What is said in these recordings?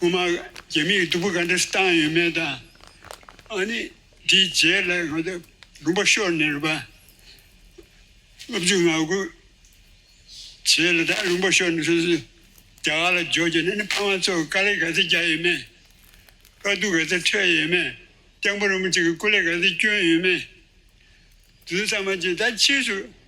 སྔོན་མ་རྒྱ་མིས་སྡུག་པོ་ག་འདྲ་བཏང་ཡོད་མེད་དང། ཨ་ནི་དེའི་རྗེས་ལ་ང་ཚོ་རུམ་པ་ཤོར་ནས་རུམ་པ་སློབ་ཆུང་ངག་ཁུག་བྱས་ལ་ད་རུམ་པ་ཤོར་ནས་སོ་སོའི་རྒྱ་གར་ལ་འབྱོར་རྗེས་ཨ་ནི་ཕ་མ་ཚོར་དཀའ་ལས་ག་ཚད་རྒྱག་ཡོད་མེད། དཀའ་སྡུག་ག་ཚད་ཁྲོད་ཡོད་མེད་སྐྱག་འབུ་རིང་པོ་ཅིག་གི་སྐུ་ལས་ག་ཚད་བསྐྱོན་ཡོད་མེད། དེ་ཚོ་ཚང་མ་རྗེས་ད་ཕྱིས་སུ་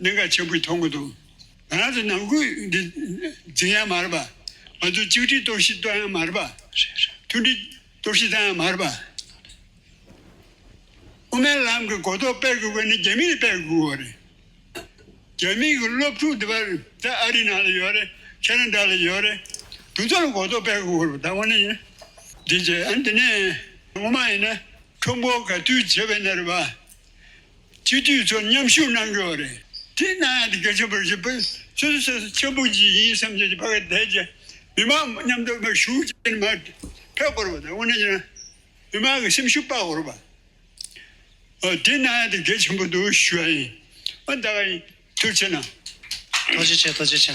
གནད་འགག་ཆེན་པོའི་ཐོག་མ་དང། ང་རང་ཚོ་ནང་ཁུལ་གྱི་འཛིན་ཡང་མ་རེད་པ། ང་ཚོའི་གཅིག་སྒྲིལ་གཏོར་བཤིག་གཏོར་ཡང་མ་རེད་པ། མཐུན་སྒྲིལ་གཏོར་བཤིག་བཏང་ཡང་མ་རེད་པ། དབུ་མའི་ལམ་གྱི་གོ་རྟོགས་སྤེལ་དགོས་པ་ནི་རྒྱ་མིས་སྤེལ་དགོས་པ་རེད། རྒྱ་མིའི་གྱི་སློབ་ཕྲུག་འདི་པར་ད་ཨ་རིའི་ནང་ལ་ཡོད་རེད། ཁྱེད་རང་འདྲ་ལ་ཡོད་རེད། དུ་ཚོ་ལ་གོ་རྟོགས་སྤེལ་དགོས་པ་རེད་ད། འདི་ཅི་ཨ་འདི་ནས། ངོ་མ་ཡིན་ན་ཁྲོམ་བོ་ག་དུས་བྱེད་པའི་གནས་རེད་པ། སྤྱི་འཐུས་ཚོ་མཉམ་ཞུགས་གནང་གི་ཡོད་རེད་དེ་གནང་ཡང་དེ་གལ་ཆེན་པོ་རེད་ཞུ་ཕུལ་ཚུལ་དེ་ཆེས་ཆེན་པོ་ཞིག་ཡིན་བསམ་བྱས་ཀྱི་ཕ་གི་དད་ཀྱི་མི་མང་མཉམ་དུ་མི་ཞུགས་བྱས་ནས་མ་ཕེབས་དགོས་རུང་དབུ་ནས་ཀྱང་མི་མང་གི་སེམས་ཤུགས་སྤར་དགོས་རུང་དེ་གནང་ཡང་དེ་གལ་ཆེན་པོ་འདུག་ཞུ་ཡ་ཡིན་འོན་ད་ག་ཡིན་ཐུགས་ཆེ་གནང། ཐུགས་རྗེ་ཆེ་ཐུགས་རྗེ་ཆེ།